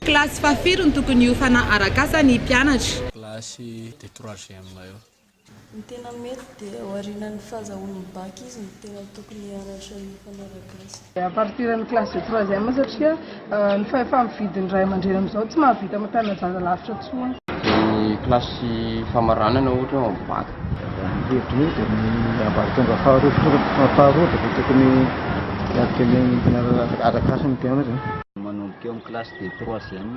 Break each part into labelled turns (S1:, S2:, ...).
S1: Kilasy fahafiry no tokony hiofana arak'asa ny mpianatra? Kilasy de
S2: troisième eo. Ny tena
S3: mety dia ao aorianan'ny fahazahoany ny bac izy no tena tokony hianatra ny mpanaraka azy. A partir ny classe
S4: de troisième satria ny fahefa-mividy ny ray aman-dreny amin'izao tsy mahavita mitana zaza lavitra intsony. Ny classe
S5: famaranana ohatra ao amin'ny bac. Ny hevitro io
S6: dia ny ambaratonga faharoa faharoa dia tokony hiatrika ny arak'asa ny mpianatra. Manomboka eo amin'ny
S5: classe de troisième.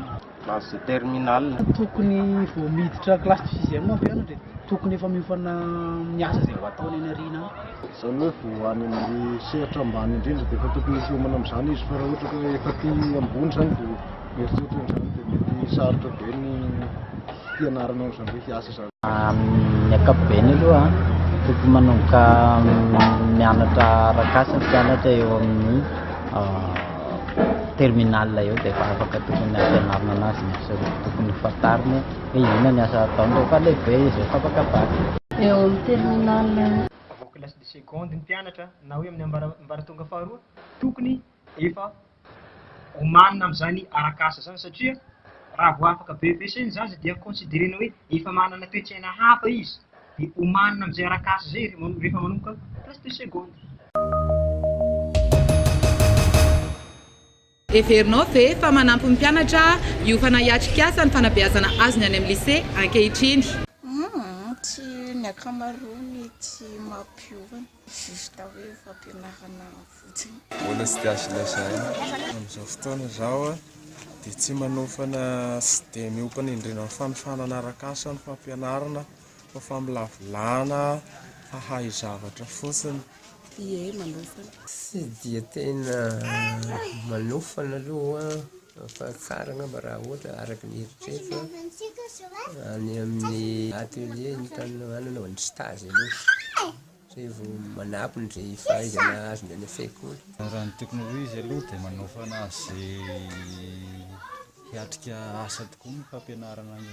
S5: Mahazo terminal. Tokony vao
S7: miditra classe de sixième ve ianao dia tokony efa miofana amin'ny asa izay ho ataony any aoriana any? Izany hoe vao
S6: any amin'ny sehatra ambany indrindra dia efa tokony hiomana amin'izany izy fa raha ohatra ka efa aty ambony izany vao mieritreritra an'izany dia mety sarotra be ny hianarana an'izany hoe hiasa. Amin'ny
S8: ankapobeny aloha, tokony manomboka mianatra arak'asa ny mpianatra eo amin'ny terminale eo dia efa afaka tokony ampianarina anazy ny asa roa tokony ho fantariny hoe inona ny asa ataony rehefa lehibe izy, rehefa afaka bac. Eo amin'ny
S3: terminale eo. Vao classe
S9: de seconde ny mpianatra na hoe amin'ny ambaratonga faharoa, tokony efa Omanina amin'izany arak'asa izany satria raha vao afaka BEPC ny zaza dia considerena hoe efa manana toe-tsaina hafa izy dia omanina amin'izay arak'asa izay izy rehefa manomboka classe de seconde.
S1: Heverinao ve fa manampy ny mpianatra hiofana hiatrik'asa ny fanabeazana azony any amin'ny lycée ankehitriny?
S10: Tsy ny ankamaroany tsy mampiofana. juste hoe fampianarana fotsiny. Mbola tsy dia azo
S11: lazaina. Amin'izao fotoana izao aho dia tsy manofana sy dia miompana indrindra amin'ny fanofanana arak'asa ny fampianarana fa famolavolana hahay zavatra fotsiny. Ie,
S3: manofana. Tsy dia
S12: tena manofana aloha aho fa tsara angamba raha ohatra araka ny eritreritro an, any amin'ny atelier no tany ananaovana stage aloha. Zay vao manabo ny ze fahaizana azony any an-tsekoly. Raha ny tokony ho
S2: izy aloha dia manaofana azy hiatrika asa tokoa ny fampianarana ny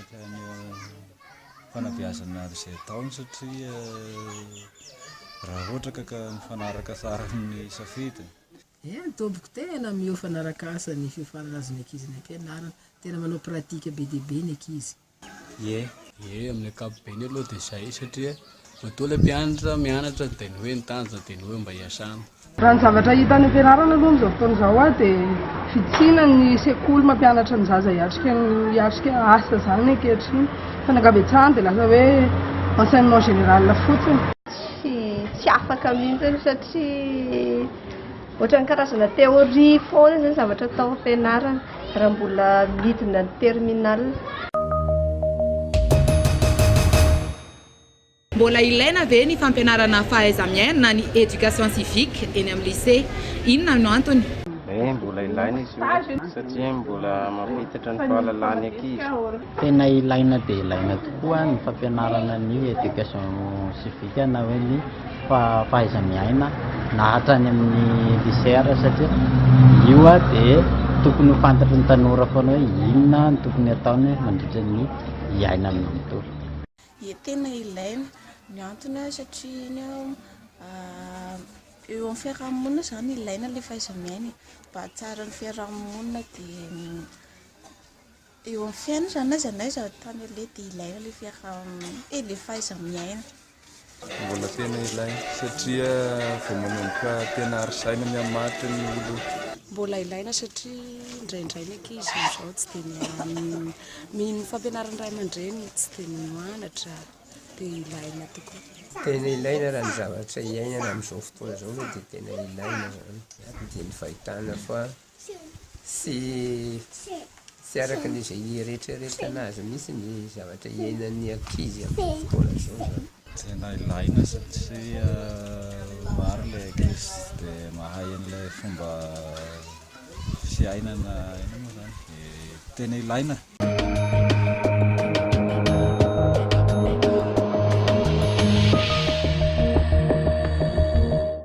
S2: fanabeazana izay ataony satria raha ohatra ka ka mifanaraka tsara amin'ny safidiny. Eny tompoko,
S7: tena miofana arak'asa ny fiofanana azon'ny ankizy any am-pianarana. Tena manao pratique be dia be ny ankizy. ie.
S2: Ie, amin'ny ankapobeny aloha dia izay satria matoa ilay mpianatra mianatra dia ny hoe ny tanjona dia ny hoe mba hiasana. Raha ny zavatra hita
S4: any am-pianarana aloha amin'izao fotoana izao aho dia vitsiana ny sekoly mampianatra ny zaza hiatrika ny hiatrika asa izany ankehitriny fa ny ankabetsahany dia lasa hoe enseignement général fotsiny. Tsy
S13: afaka mihitsy satria. Ohatran'ny karazana théorie foana izany zavatra atao am-pianarana raha mbola midina ny terminale.
S1: Mbola ilaina ve ny fampianarana fahaiza-miaina na ny éducation civique eny amin'ny lycée? Inona no antony? Ee, mbola ilaina
S5: izy io satria mbola mampihitatra ny fahalalahan'ny ankizy. Tena ilaina
S8: dia ilaina tokoa ny fampianarana ny éducation civique na hoe ny fahaiza-miaina na hatrany amin'ny lycée ary satria io dia tokony ho fantatry ny tanora foana hoe inona no tokony hataony mandritra ny iainany manontolo. Ie tena
S10: ilaina, ny antony satria iny eo amin'ny fiaraha-monina izany ilaina ilay fahaiza-miaina e, mba hahatsara ny fiaraha-monina dia. Eo amin'ny fiainana izany na izay na izay ao tany aloha dia ilaina ilay fiaraha-miaina e, ilay fahaiza-miaina. Mbola
S11: tena ilaina satria vao manomboka tena harizaina mihamatotra ny olona. Mbola ilaina
S3: satria indraindray ny ankizy amin'izao tsy dia mino ny fampianaran'ny ray aman-dreniny, tsy dia mino anatra dia ilaina tokoa. Tena ilaina
S12: raha ny zavatra iainana amin'izao fotoana izao aloha dia tena ilaina izany dia ny fahitana fa Tsy tsy araka ny izay nieretreretana azy mihitsy ny zavatra iainan'ny ankizy amin'izao fotoana izao izany. Tena ilaina
S2: satria maro ilay ankizy tsy dia mahay an'ilay fomba fiainana, inona moa izany? dia tena ilaina.